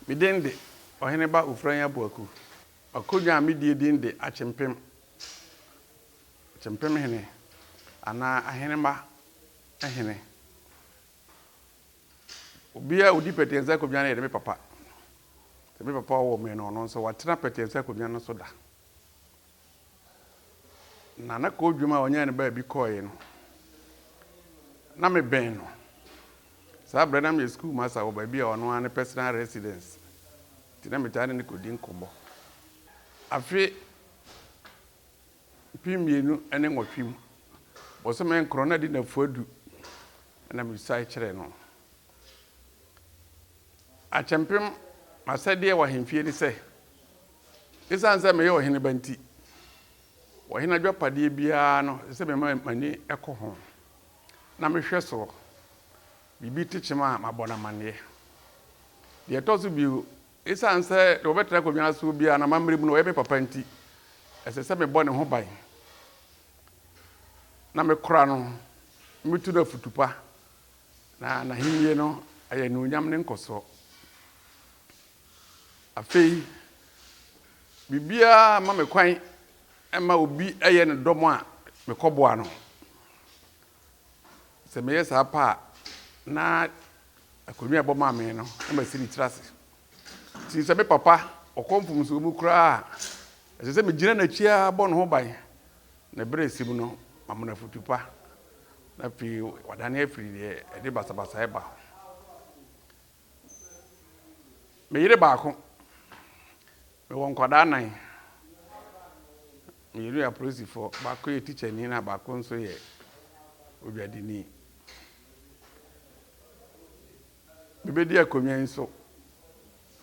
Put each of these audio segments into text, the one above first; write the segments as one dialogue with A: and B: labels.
A: Me din de, Ɔhene Ba Ofurayi Abuaku. M'akonnwa a medie din de Akyempem, Akyempem Hene, anaa Ahenemma Hene. Obiara a ɔdi pɛtɛɛsi akonnwa no yɛ ne me papa. Sɛ me papa a ɔwɔ me no, ɔno nso, watena pɛtɛɛsi akonnwa no so da. Na na koodwom a ɔnyae no baabi kɔeɛ no, na mebɛn no. Saa berɛ na meyɛ sukuu masa wɔ baabi a ɔno ara ne personal residence, nti na metaa ne no kɔdi nkɔmmɔ. Afe mpem mmienu ne nwɔtwe mu, bosome nkron na ɛde nnafua du na mesuae kyerɛɛ no. Akyɛmpem, m'asɛdeɛ wɔ ahemfie ne sɛ. Esiane sɛ meyɛ ɔhene ba nti, ɔhene adwapadeɛ biara no, ɛsɛ sɛ mema m'ani kɔ ho, na mehwɛ so biribi te kyem a, mabɔ no amanneɛ. Deɛ ɛtɔ so bio, esiane sɛ deɛ ɔbɛtena akonnwa no soɔ biara no, m'ammerɛ mu no, ɔyɛ me papa nti, ɛsɛ sɛ mebɔ ne ho ban, na mekora no, na metu no afutu pa, na n'ahennie no ayɛ anuonyam ne nkɔsoɔ. Afei, biribiara mma me kwan mma obi yɛ no dɔm a mekɔboa no. Sɛ meyɛ saa pɛ a, na akonnwa a ɛbɔ maa me no, na masi ne tiri ase. Nti sɛ me papa ɔkɔ mfomsoɔ mu koraa a, ɛsɛ sɛ megyina n'akyi ara bɔ ne ho ban, na berɛ a ɛsɛ mu no, mama no afotu pa, na afei wadane afiri deɛ ɛde basabasayɛ ba ho. Me yere baako, mewɔ nkwadaa nnan. Mmienu yɛ apolisifoɔ, baako yɛ tikyani na baako nso yɛ odwadini. Mebɛdi akonnwa yi so,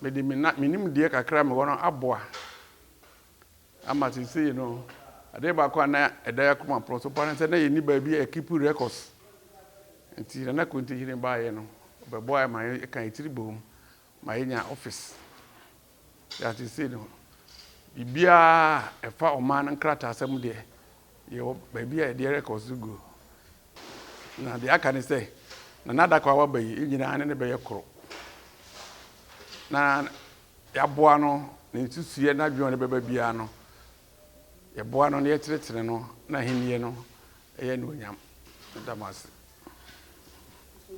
A: mede me na me nimdeɛ kakra a mewɔ no aboa. ama seesei no, adeɛ baako a na ɛda yɛn akoma porɔ so paa ne sɛ na yɛnni baabi a yɛkipu records. Nti Nana Konte Hene baeɛ no, ɔbɛboaa yɛn ma yɛka yɛn tiri boom ma yɛnya office. Yɛ a seesei no, biribiara a ɛfa ɔman no nkrataasɛm deɛ, Yɛwɔ baabi a yɛde records no gu. Na deɛ aka ne sɛ, na n'adaka a waba yi nyinaa ne ne bɛyɛ koro. Na yɛaboa no, ne nsusuiɛ, n'adwene a ɔde bɛba biara no, yɛboa no na yɛtenetene no n'ahennie no yɛ anuonyam. Meda mo ase.